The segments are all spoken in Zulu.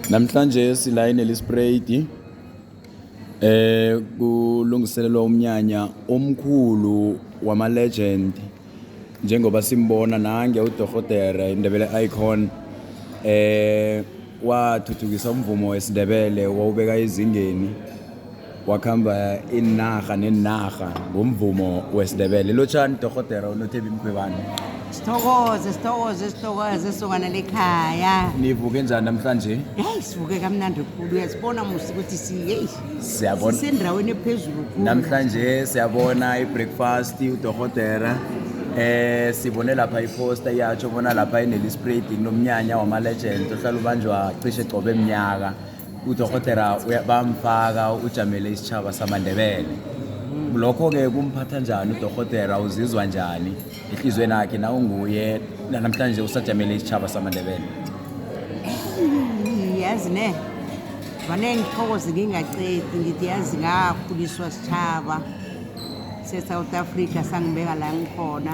Namhlanje silayini elisprayidi eh kulungiselelwa umnyanya omkhulu wama legend njengoba simbona nange uDorhotere Indebele Icon eh wathuthukisa umvumo wesiNdebele wawubeka ezingeni wakhamba inarha nenarha ngomvumo wesiNdebele lotshani dorhotera unothebi mkhwebane sithokoze sithokoze sithokoze sokana lekhaya nivuke njani namhlanje heyi sivuke kamnandi khulu uyasibona musi ukuthi siyeyi siyabona sisendaweni ephezulu khulu namhlanje siyabona i-breakfast udorhotera eh sibone lapha iposta iyatsho bona lapha inelispred kunomnyanya wama-legend ohlala ubanjwa cishe qobe mnyaka udokotela uya- bamfaka ujamele isitshaba samandebele lokho-ke kumphatha njani udokotela uzizwa njani ehliziyweni yakhe na unguye nanamhlanje usajamele isitshaba samandebele yazi ne vane ngithokoze ngingacedi ngithi yazi ngakhuliswa sitshaba se-south africa sangibeka la ngikhona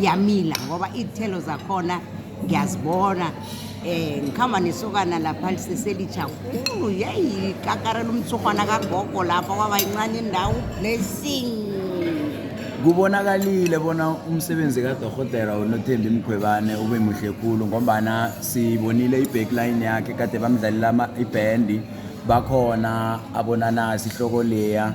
yamila ngoba iy'thelo zakhona ngiyazibona eh ngikhamba nesokana lapha liseselijakhulu yeyi kakarela umthurhwana kagogo lapha kwaba yincane indawo blessing kubonakalile bona umsebenzi kadorhotera unothembi mkhwebane ube muhle khulu ngombana sibonile i-backline yakhe kade bamdlalela ibhendi bakhona abonanasi ihloko leya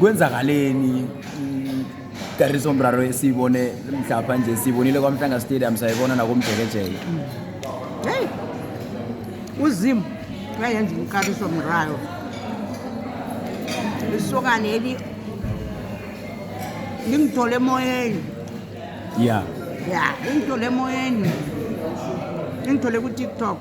kwenzakaleni kariso mraro esiyibone mhlapha nje siyibonile kwamhlanga stadium sayibona nakomjekejeke hey uzimu uyayenza umkariso mraro lisokane eli lingithole emoyeni ya ya lingithole emoyeni lingithole ku-tiktok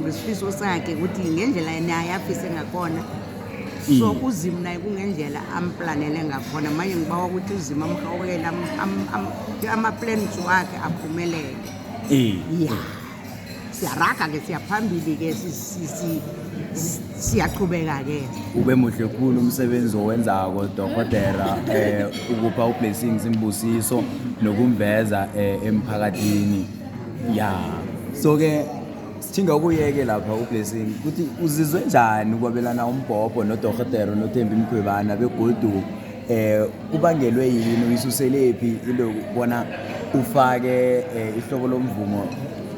ngesifiso sakhe ukuthi ngendlela yena ayafise ngakhona mm. so uzimu naye kungendlela amplanele ngakhona manje ngibawa ukuthi uzimu amhawukele ama-plans wakhe aphumelele eh. ya siyaraga ke siyaphambili ke siyaqhubeka ke ube muhle khulu umsebenzi owenzako dokotela eh ukupha ublessings imbusiso nokumveza eh, emphakathini ya so ke sithinga ukuyeke lapha ublessing ukuthi uzizwe njani ukwabelana umbhobho nodorhotero nothembi mkhwebana begodu eh kubangelwe yini uyisuselephi into yokubona ufake eh, ihlobo lomvumo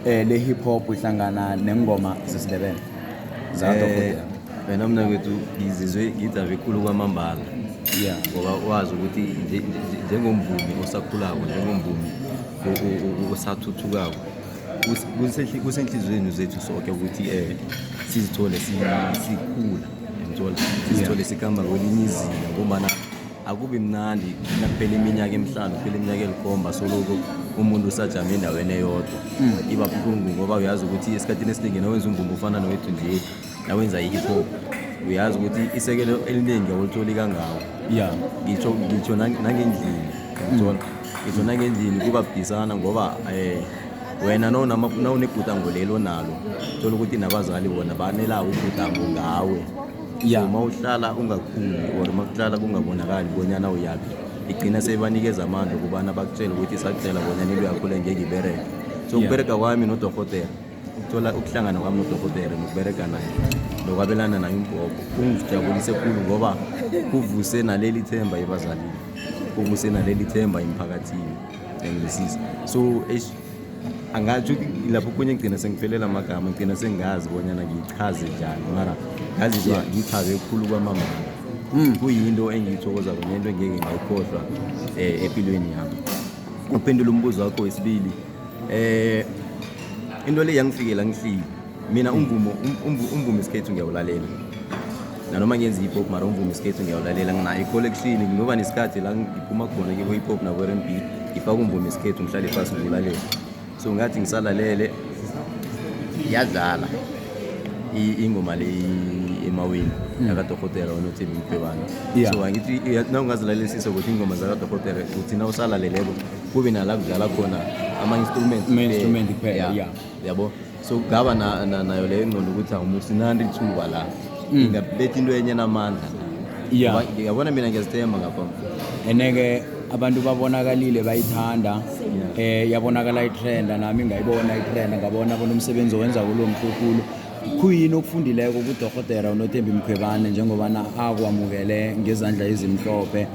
eh, le-hip hop ihlangana nengoma zesindebele Eh, wena mntakwethu ngizizwe ngidabe khulu kwamambala ya ngoba wazi ukuthi nje- nje- njengomvumi osakhulako njengomvumi o- o- o- osathuthukako kus- kusehli- kusenhliziyweni zethu soke ukuthi um sizithole si- sikhula ngithola sizithole sikamba kwelinye izinga ngombana akubi mnandi nakuphela iminyaka emihlanu kuphela iminyaka elikhomba soloko umuntu usajame endaweni eyodwa iba buhlungu ngoba uyazi ukuthi esikhathini esiningi nawenza umvumba ofana nowethu nje nawenza i-hip hop uyazi ukuthi isekelo eliningi awulitholi kangako ya ngitsho ngitsho nang- nangendlini ngithola ngitsho nangendlini kuba budisana ngoba um wena nonama- nawunebhudango leli onalo thola ukuthi nabazali bona banelako ubhudango ngawe ya uma uhlala ungakhuli or uma kuhlala kungabonakali bonyana uyaphi igcina sebanikeza amandla ukubana bakutshele ukuthi sakucela bonyana into yakho le ngeke ibereke so Yeah. ukubereka kwami nodorhotela ukuthola ukuhlangana kwami nodokotela nokubereka naye nokwabelana naye umbhobho kungijabulise khulu ngoba kuvuse naleli themba ebazalini kuvuse naleli themba emphakathini engilisiza so angatsho ukuthi lapho kunye ngigcina sengiphelela amagama ngigcina sengazi bonyana ngiyichaze njani mara ngazizwa ngiyichaze khulu kwamama hmm. kuyinto engiyithokoza kunento engeke ngayikhohlwa um eh, empilweni yami ukuphendula umbuzo wakho wesibili Eh into le yangifikela ngihlile. Mina umvumo um- umvu- umvumo isikhethu ngiyawulalela. Nanoma ngenza hip hop mara umvumo isikhethu ngiyawulalela nginayo i-collection ngoba nesikhathi la ngiphuma khona kibo hip hop nabo R&B ngifaka umvumo isikhethu ngihlale phansi ngiwulalela. So ngathi ngisalalele yadlala i- ingoma le i- emaweni yakadokotela onothembi mkhwebana Yeah. so angithi iya- nawungazilalelisiso ukuthi ingoma zakadokotela uthi nawusalaleleko kube nala kudlala khona ama-instrument ama-instrument kuphela yeah yabo so kugaba nayo leyo ngqondo ukuthi awumuntu sinandi lithuba la mm. ingabetha into enye namandla yeah yabona mina ngiyazithemba ngapha ene-ke abantu babonakalile bayithanda eh yabonakala itrenda nami ngayibona itrenda ngabona bona umsebenzi owenza kulo mkhukulu khuyini okufundileko kudorhotera unothembi mkhwebane njengobana akwamukele ngezandla ezimhlophe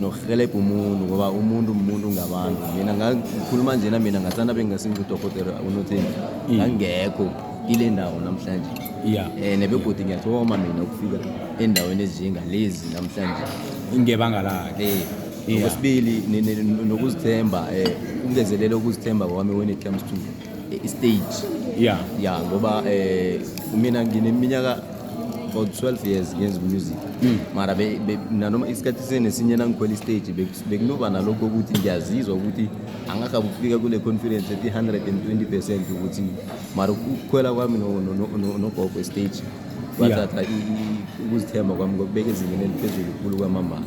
nokurhelebha umuntu ngoba umuntu umuntu ngabantu mina ngakhuluma njena mina ngathanda bengingasingudokotela unotheni ngangekho kile ndawo namhlanje ya eh, um nebegodi ngiyathoma mina ukufika endaweni ezinjengalezi namhlanje ngebanga lakhe eh, okwesibili nokuzithemba um eh, ungezelele ukuzithemba kwami when it comes to istage yeah yeah ngoba eh mina ngineminyaka for 12 years ngenza umusic mm. mara nanoma isikhathi sinesinye nangikhwela istage bekunoba nalokho ukuthi ngiyazizwa ukuthi angakabe ukufika kule conference ethi 120 percent ukuthi mara ukukhwela kwami nogogo estage kwathatha ukuzithemba kwami ngokubeka ezingeni eliphezulu khulu kwamambala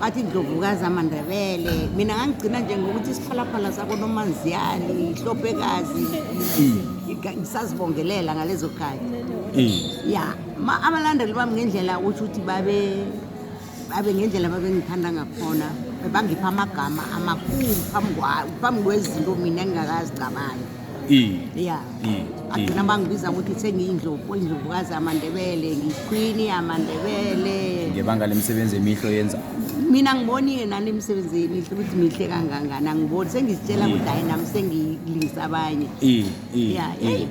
bathi indlovukazi amandebele mina ngangigcina nje ngokuthi isiphalaphala sakonomanziyani ihlopekazi mm. ngisazibongelela ngalezo khathi mm. ya abalandeli bami ngendlela usho ukuthi babe babe ngendlela babengithanda ngakhona bangipha amagama amakhulu phambi kwezinto mina engingakazicabangi ya agcina bangibiza ukuthi sengiyindlovu indlovukazi yamandebele ngiyikhwini yamandebele ngebanga lemisebenzi emihle oyenza mina ngiboni yena nemisebenzi emihle ukuthi mihle kangangani angiboni sengizitshela ukuthi hayi nami sengilingisa abanye ya eyi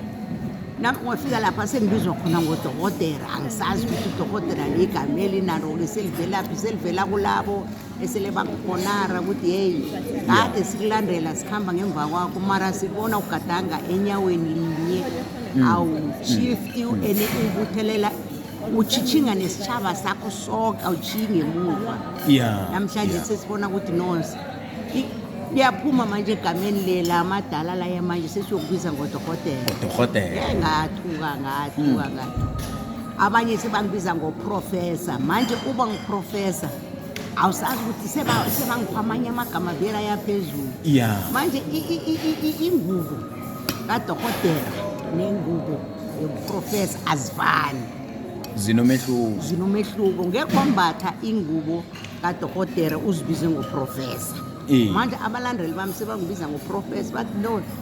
nami ngofika lapha sengibizwa khona ngodokotela angisazi ukuthi udokotela ligama elinalo-ke selivelaphi selivela kulabo esele bakubonara ukuthi yeyi kade sikulandela sikhamba ngemva kwakho mara sibona ugadanga enyaweni linye mm. awushifti mm. ene ubuthelela uchitshinga nesitshaba sakho soke awutshingi emuva namhlanje sesibona ukuthi nonse liyaphuma manje egameni lela amadala laya manje sesiyokubiza ngodokotela ngodokotela ngathuka ngathuka mm. ngathuka abanye sebangibiza ngoprofesa manje uba ngiprofesa awusazi ukuthi sebangipha amanye amagama vela yaphezulu ya manje ingubo kadokotela nengubo yobuprofesa azifani zinomehluko zinomehluko ngekho wambatha ingubo kadokotela uzibize ngoprofesa manje abalandeli bami sebangibiza ngoprofesa bathi no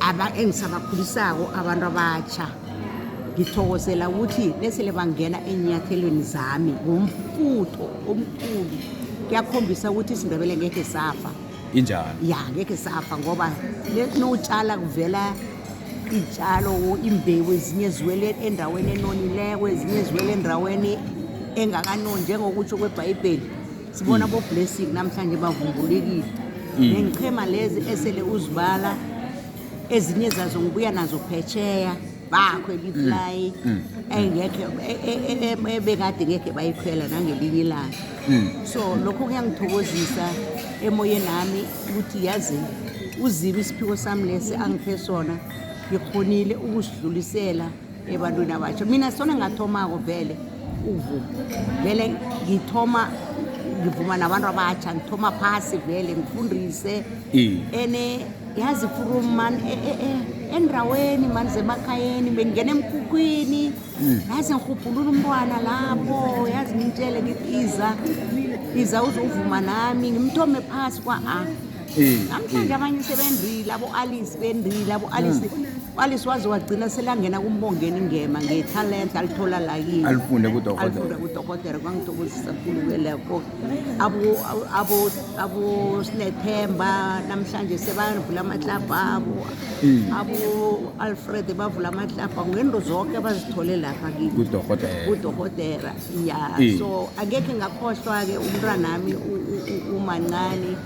aba engisabakhulisako abantu abatsha ngithokozela ukuthi nesele bangena enyathelweni zami ngomfutho omkhulu kuyakhombisa ukuthi isindebele ngekhe safa injalo ya ngekhe safa ngoba notshala kuvela iy'tshalo imbewu ezinye ziwele endaweni enonileko ezinye ziwele endaweni engakanoni njengokutsho kwebhayibheli sibona mm. boblessing namhlanje bavumbulekile mm. nengichema lezi esele uzibala ezinye zazo ngibuya nazo phetsheya bakho eliflayi mm. mm. engekhe e, e, e, ebekade ngekhe bayikhwela nangelinye ilanga mm. so lokho kuyangithokozisa emoyeni nami ukuthi yazi uzibe isiphiwo sami lesi angiphe sona ngikhonile ukusidlulisela ebantwini abatjha mina sona ngathomako vele ukuvuma vele ngithoma ngivuma nabantu abatjha ngithoma phasi vele ngifundise ene yazi from man e, e, e, endaweni mani zemakhayeni bengingena emkhukhwini hmm. yazi ngirhubhulula umntwana lapho yazi ngimtshele ngithi iza iza uzovuma nami ngimthome phasi kwa-a Eh, namhlanje eh. abanye sebendile abo-alice bendile abo-alice hmm. u-alice waze wagcina selangena kumbongeni ngema ngethalente alithola la yini alifunde kudokotealifunde kudokotela kwangithokozisa kulu kweleko abosnethemba namhlanje sebavula amatlabha abo hmm. abo-alfred bavula amatlabha ngento zonke abazithole lapha kikudokotela ya hmm. so angekhe ngakhohlwa-ke umntwanami umancane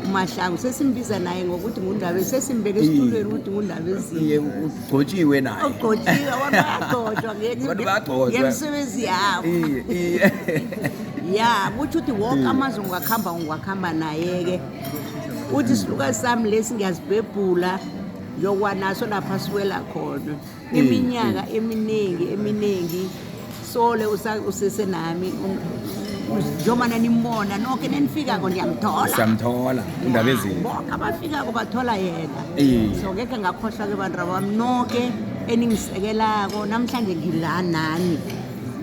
umahlangu sesimbiza naye ngokuthi ngundabezi sesimbeke esitulweni ukuthi ngundabezini iye ugcotshiwe naye ogcotshiwe abantu bayagcotshwa nge- Abantu bayagcotshwa. ngemisebenzi yabo iye iye ya kutsho ukuthi wonke amazwe ngiwakuhamba ngiwakuhamba naye-ke uthi isilukazi sami lesi ngiyazibhebhula ngiyokwanaso lapha siwela khona iminyaka eminingi eminingi sole usese nami njengoba nanimona nonke nenifikako ndiyamthola siyamthola indaba ezinto bonke abafikako bathola yena so ngekhe ngakhohlwa ke bantu abami nonke eningisekelako namhlanje ngila nani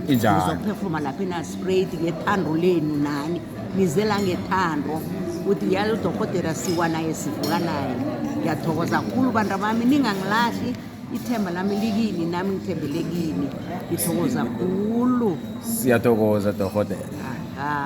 ngizophefuma lapha enasprayed ngethando lenu nani ngizela ngethando ukuthi ngiyalo udorhotera siwa naye sivuka naye ngiyathokoza khulu bantu abami ningangilahli Ithemba lami likini nami ngithembele kini. Ngithokoza khulu. Siyathokoza dokotela. Ah.